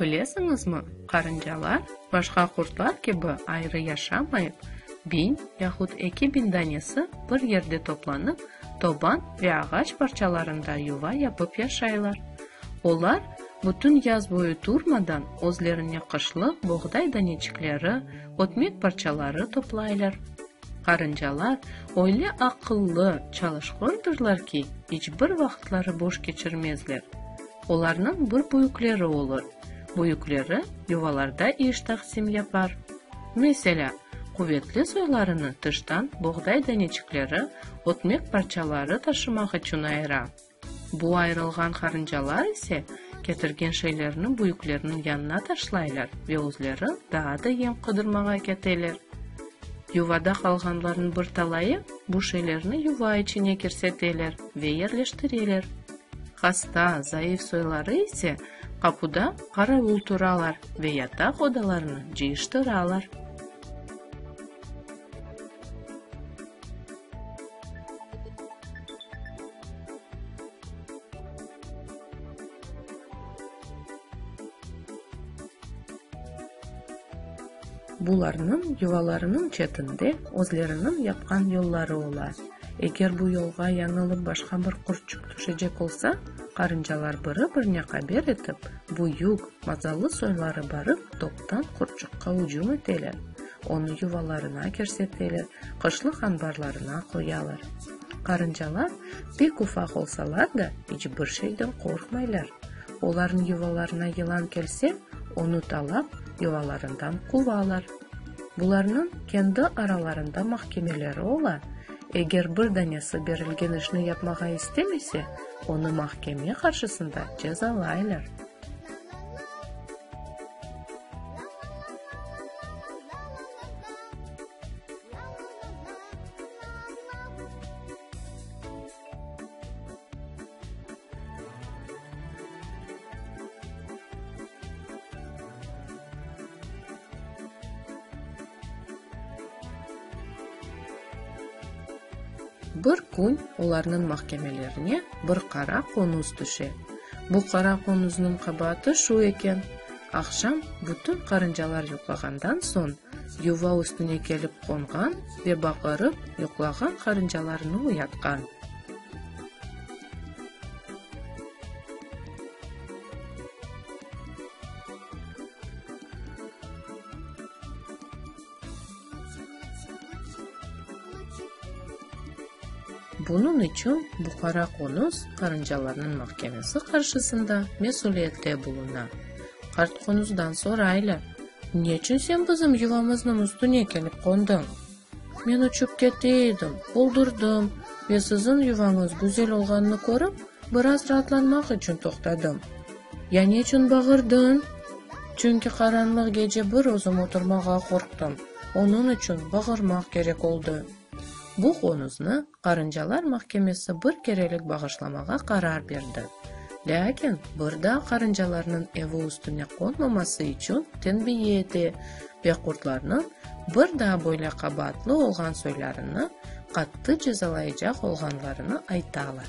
Bilesiñizmi, qarıncalar, başqa qurtlar kibi ayrı yaşamayıp, biñ yahut eki biñ danesi bir yerde toplanıp, toban ve ağaç parçalarında yuva yapıp yaşaylar. Olar, bütün yaz boyu turmadan, özlerine qışlıq boğday daneçikleri, ötmek parçaları toplaylar. Qarıncalar öyle aqıllı, çalışqöndürler ki, iç bir vaqıtları boş keçirmezler. Olarnıñ bir büyükleri olur. Büyükleri yuvalarda iş taqsim yapar. Meselâ, quvetli soylarını tıştan boğday daneçikleri, ötmek parçaları taşımaq içün ayıra. Bu ayırılğan qarıncalar ise ketirgen şeylerni büyüklerniñ yanına taşlaylar ve özleri daa da yem qıdırmağa keteler. Yuvada qalğanlarnıñ bir talayı bu şeylerni yuva içine kirseteler ve yerleştireler. Hasta, zayıf soyları ise qapuda qaravul turalar ve yataq odalarını cıyıştıralar. Bularnıñ yuvalarınıñ çetinde özleriniñ yapqan yolları ola. Eger bu yolğa yañılıp başqa bir qurtçuk tüşecek olsa, qarıncalar biri-birine qaber etip, büyük, mazalı soyları barıp toptan qurtçuqqa ücüm eteler, onı yuvalarına kerseteler, qışlıq anbarlarına qoyalar. Qarıncalar pek ufaq olsalar da, iç bir şeyden qorqmaylar. Olarnıñ yuvalarına yılan kelse, Onı talap yuvalarından quvalar. Bularnıñ kendi aralarında mahkemeleri ola, eger bir danesi berilgen işni yapmağa istemese, onı mahkeme qarşısında cezalaylar. Bir kün olarnıñ mahkemelerine bir qara qonuz tüşe. Bu qara qonuznıñ qabaatı şu eken, aqşam bütün qarıncalar yuqlağandan soñ, Yuva üstüne kelip qonğan ve baqırıp yuqlağan qarıncalarını uyatqan. Bunıñ içün Buhara qonus qarıncalarnıñ mahkemesi qarşısında mesüliyetle buluna. Qartqunuzdan soraylar, Neçün sen bizim yuvamıznıñ üstüne kelip qondıñ? Men uçıp kete edim, oldurdım ve siziñ yuvañız güzel olğanını körip, biraz raatlanmaq içün toqtadım. Ya neçün bağırdıñ? Çünki qaranlıq gece bir özüm oturmağa qorqtım, onıñ içün bağırmaq kerek oldı. Bu qonuznı qarıncalar mahkemesi bir kerelik bağışlamağa qarar berdi, lâkin bir daa qarıncalarnıñ evi üstüne qonmaması içün tenbiye ete ve qurtlarnıñ bir daa böyle qabaatlı olğan soylarını qattı cezalayacaq olğanlarını aytalar.